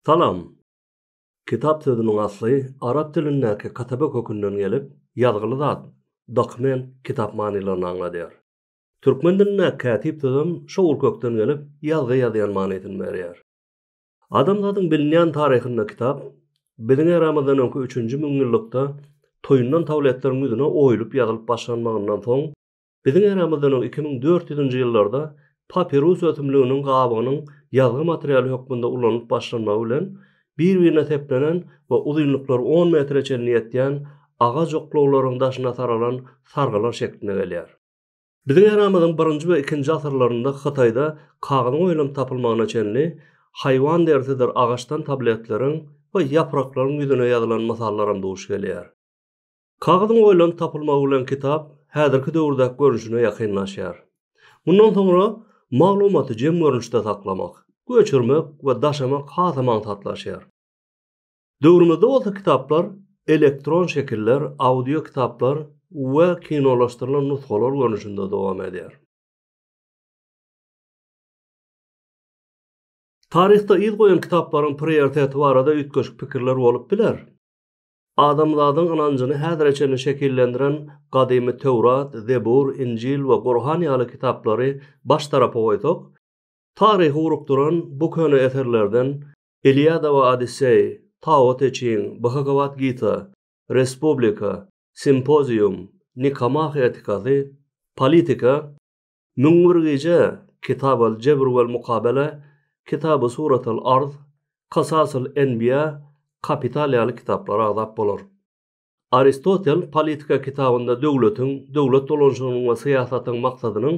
Salam! Kitap sözüniň asly arap dilindäki katabe kökünden gelip, ýazgyly zat, dokument, kitap manylaryny aňladýar. Türkmen dilindäki kätip sözem şo ugurkökden gelip, ýazgy ýazýan manysyny berýär. Adamzadyň bilinýän taryhynda kitap biziň eramyzdan öňki üçünji müňýyllykda toýundan tabletleriň ýüzüne oýulyp ýazylyp başlanmagyndan soň, biziň eramyzdan öň iki müň dört ýüzünji ýyllarda papirus ösümliginiň gabygynyň ýazgy materialy hökmünde ulanylyp başlanmagy bilen bir-birine seplenen we uzynlyklary on metre çenli ýetýän agaç oklawlaryň daşyna saralan sargylar şeklinde gelýär. Biziň äramyzyň birinji we ikinji asyrlarynda Hytaýda kagyzyň oýlanyp tapylmagyna çenli haýwan derisidir agaçdan tabletleriň we ýapraklaryň ýüzüne ýazylan mysallaram duş gelýär. Kagyzyň oýlanyp tapylmagy bilen kitap häzirki döwürdäki görnüşine ýakynlaşýar. Mundan soňra maglumaty jem görnüşde saklamak, göçürmek we daşamak hasam aňsatlaşýar. Döwrümizde bolsa kitaplar elektron şekiller, audio kitaplar we kinolaşdyrylan nusgalar görnüşinde dowam edýär. Taryhda yz goýan kitaplaryň prioriteti barada üýtgeşik pikirler bolup biler. Adamzadyň ynanjyny häzire çenli şekillendiren gadymy Töwrat, Zebur, Injil we Gurhan ýaly kitaplary baş tarapa goýsak, taryhy urukdyran bu köne eserlerden Iliada we Odisseý, Tao Te Çing, Bhagawat Gita, Respublika, Simpozium, Nikomah etikasy, Politika, Müň bir gije, Kitab al-Jebr wal-Mukabele, Kitabu Surat al-Arz, Kasas al-Enbiýa, Kapital ýaly kitaplara agzap bolar. Aristotel Politika kitabynda döwletiň, döwlet dolanyşygynyň we syýasatyň maksadynyň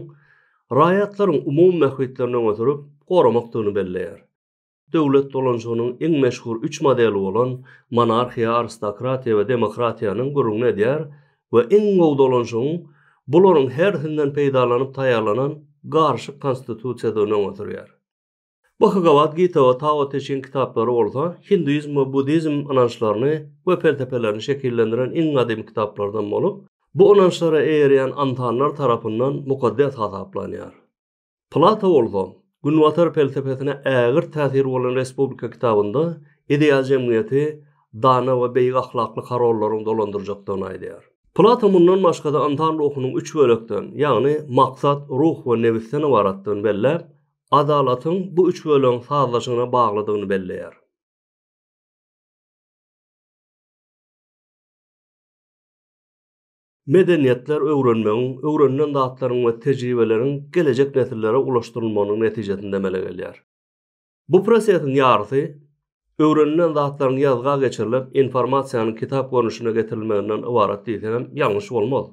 raýatlaryň umumy mähwitlerini öňe sürüp, goramakdygyny belleýär. Döwlet dolanşygynyň iň meşhur üç modeli bolan monarhiýa, aristokratiýa we demokratiýanyň gürrüňini edýär we iň gowy dolanşygyň bularyň hersinden peýdalanyp taýýarlanan garyşyk konstitusiýadygyny öňe sürýär. Bhagawad Gita we Tao Te Çing kitaplary bolsa hinduizm we buddizm ynançlaryny we pelsepelerini şekillendiren iň gadymy kitaplardan bolup, bu ynançlara eýerýän ansanlar tarapyndan mukaddes hasaplanýar. Plato bolsa, Günbatar pelsepesine ägirt täsir bolan Respublika kitabynda ideal jemgyýeti dana we beýik ahlakly korollaryň dolandyrjakdygyny aýdýar. Plato mundan başga-da ynsan ruhunyň üç bölekden, ýagny maksat, ruh we nebisden ybaratdygyny belläp, adalatyň bu üç bölegiň sazlaşygyna baglydygyny belleýär. Medeniýetler öwrenmegiň, öwrenilen zatlaryň we tejribeleriň gelejek nesillere ulaşdyrylmagynyň netijesinde emele gelýär. Bu prosesiň ýarysy öwrenilen zatlaryň ýazga geçirilip, informasiýanyň kitap görnüşine getirilmeginden ybarat diýsegem ýalňyş bolmaz.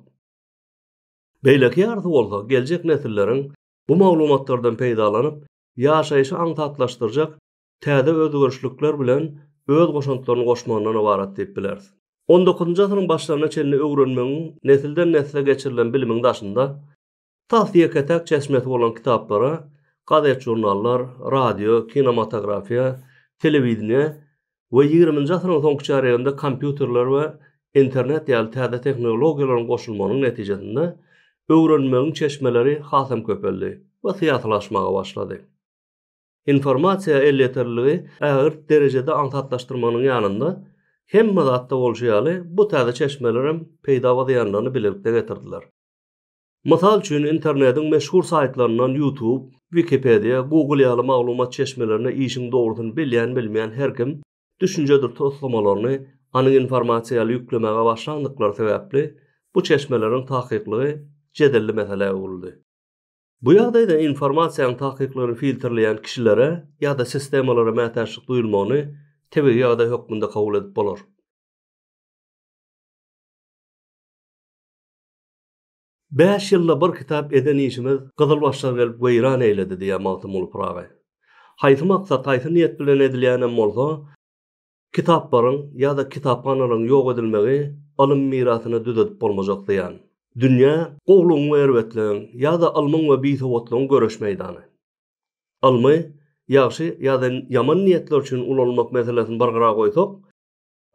Beýleki ýarysy bolsa geljek nesilleriň bu maglumatlardan peýdalanyp, ýaşaýşy aňsatlaşdyrjak täze özgerişlikler bilen öz goşantlaryny goşmagyndan ybarat diýip bileris. On dokuzynjy asyryň başlaryna çenli öwrenmegiň nesilden-nesle geçirilen bilimiň daşynda tas ýeke-täk çeşmesi bolan kitaplara, gazet-žurnallar, radio, kinomatografiýa, telewideniýe we ýigriminji asyryň soňky çärýeginde kompýuterler we internet ýaly täze tehnologiýalaryň goşulmagynyň netijesinde öwrenmegiň çeşmeleri hasam köpeldi we syýasylaşmaga başlady. Informasiýa elýeterliligi ägirt derejede aňsatlaşdyrmagynyň ýanynda, hemme zatda bolşy ýaly, bu täze çeşmeler hem peýda we zyýanlaryny bilelikde getirdiler. Mysal üçin, internediň meşhur saýtlaryndan YouTube, Wikipedia, Google ýaly maglumat çeşmelerine işiň dogrusyny bilýän-bilmeýän her kim düşünjedir toslamalarny anyk informasiýa ýaly ýüklemäge başlandyklary sebäpli, bu çeşmeleriň takyklygy jedelli meselä öwrüldi. Bu ýagdaýda informasiýanyň takyklaryny filtrleýän kişilere ýa-da sistemalara mätäçlik duýulmagyny tebigy ýagdaý hökmünde kabul edip bolar. Bäş ýylda bir kitap eden işimiz gyzylbaşlar gelip weýran eýledi diýýär Magtymguly Pyragy. Haýsy maksat, haýsy niýet bilen edilýänem bolsa, Kitaplaryň ýa-da kitaphanalaryň ýok edilmegi ylym mirasyny düzedip bolmajak zyýan. Dünýä, gowulygyň we erbetligiň, ýa-da ylmyň we bisowatlygyň göreş meýdany. Ylmy ýagşy ýa-da ýaman niýetler üçin ulanylmak meselesini bir gyra goýsak,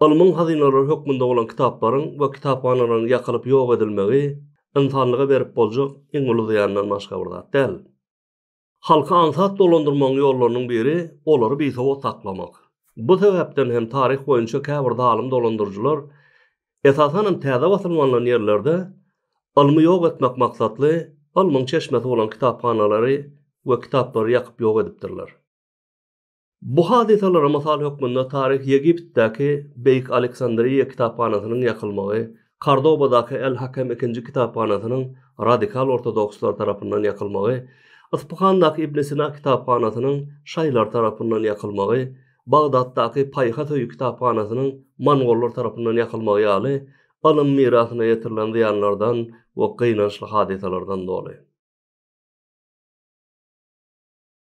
ylmyň hazynalary hökmünde bolan kitaplaryň we kitaphanalaryň ýakylyp ýok edilmegi ynsanlyga berip boljak iň uly zyýandan başga bir zat däl. Halky aňsat dolandyrmagyň ýollarynyň biri olary bisowat saklamak. Bu sebäpden hem taryh boýunça käbir zalym dolandyryjylar, esasanam täze basylyp alnan ýerlerde ylmy ýok etmek maksatly ylmyň çeşmesi bolan kitaphanalary we kitaplary ýakyp ýok edipdirler. Bu hadysalara mysal hökmünde taryhy Ýegiptdäki Beýik Aleksandriýa kitaphanasynyň ýakylmagy, Kordobadaky El-Hakem ikinji kitaphanasynyň radikal ortodokslar tarapyndan ýakylmagy, Yspyhandaky Ibn Sina kitaphanasynyň şaýlar tarapyndan ýakylmagy, Bagdatdaky Paýhas öýi kitaphanasynyň mongollar tarapyndan ýakylmagy ýaly ylym mirasyna ýetirilen zyýanlardan we gynançly hadysalardan doly.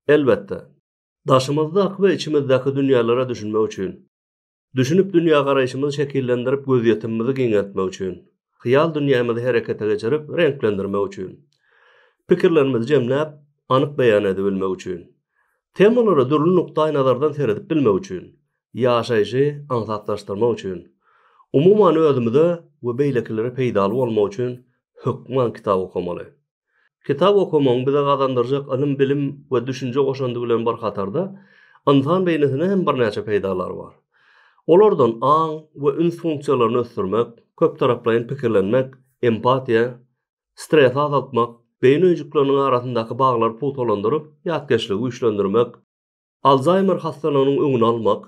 Elbetde, daşymyzdaky we içimizdäki dünýälere düşünmek üçin, düşünip dünýägaraýşymyzy şekillendirip gözýetimimizi giňeltmek üçin, hyýal dünýämizi herekete geçirip reňklendirmek üçin, pikirlerimizi jemläp, anyk beýan edibilmek üçin, temalara dürli nukdaý nazardan seredip bilmek üçin, ýaşaýşy aňsatlaşdyrmak üçin, umuman özümize we beýlekilere peýdaly bolmak üçin hökman kitap okamaly. Kitap okamagyň bize gazandyrjak ylym-bilim we düşünje goşandy bilen bir hatarda, ynsan beýnisine hem birnäçe peýdalary bar. Olardan aň we üns funksiýalaryny ösdürmek, köptaraplaýyn pikirlenmek, empatiýa, stresi azaltmak, beýni öýjükleriniň arasyndaky baglary pugtalandyryp, ýatkeşligi güýçlendirmek, Alzheimer hastalygynyň öňüni almak,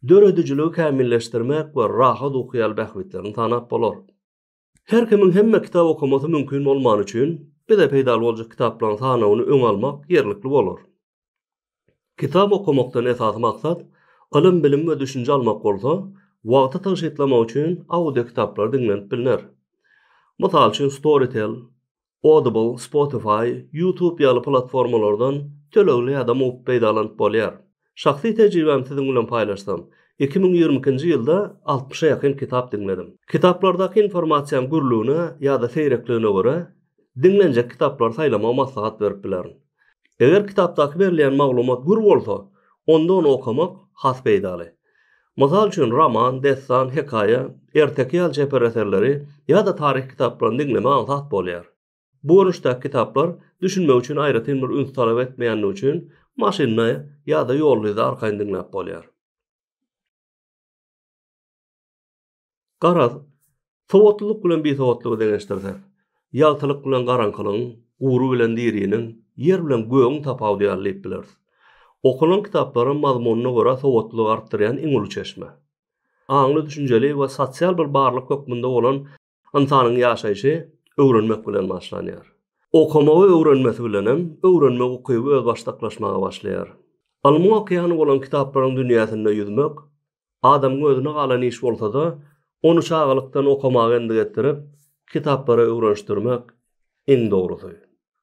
döredijiligi kämilleşdirmek we rahat uky ýaly bähbitlerini sanap bolar. Her kimiň hemme kitap okamasy mümkin bolmany üçin, bize peýdaly boljak kitaplaryň sanawyny öňe almak ýerlikli bolar. Kitap okamakdan esasy maksat ylym-bilim we düşünje almak bolsa, wagty tygşytlamak üçin audio kitaplary diňlenip bilner. Mysal üçin Storytel, Audible, Spotify, YouTube ýaly platformalardan tölegli ýa-da mugt peýdalanyp bolýar. Şahsy tejribämi siziň bilen paýlaşsam, iki müň ýigrimi ikinji ýylda altmyşa ýakyn kitap diňledim. Kitaplardaky informasiýaň gürlügine ýa-da seýrekligine görä, diňlenjek kitaplary saýlamagy maslahat berip bilerin. Eger kitapdaky berilýän maglumat gür bolsa, onda ony okamak has peýdaly. Mysal üçin, roman, dessan, hekaýa, erteki ýaly çeper eserleri ýa-da taryhy kitaplaryny diňlemek aňsat bolýar. Bu görnüşdäki kitaplar düşünmek üçin aýratyn bir üns talap etmeýändigi üçin maşynda ýa-da ýolda arkaýyn diňläp bolýar. Garaz, sowatlylyk bilen bisowatlygy deňeşdirsek, ýagtylyk bilen garaňkylygyň, gury bilen diriniň, ýer bilen gögüň tapawudy ýaly diýip bileris. Okalan kitaplaryň mazmunyna görä sowatlylygy artdyrýan iň uly çeşme. Aňly-düşünjeli we sosial bir barlyk hökmünde bolan ynsanyň ýaşaýşy öwrenmek bilen başlanýar. Okamagy öwrenmesi bilen hem öwrenmek ukyby özbaşdaklaşmaga başlaýar. Ylmyň okeany bolan kitaplaryň dünýäsinde ýüzmek, Adamyň özüne galan iş bolsa-da, ony çagalykdan okamaga endik etdirip, kitaplara öwrenişdirmek iň dogrusy.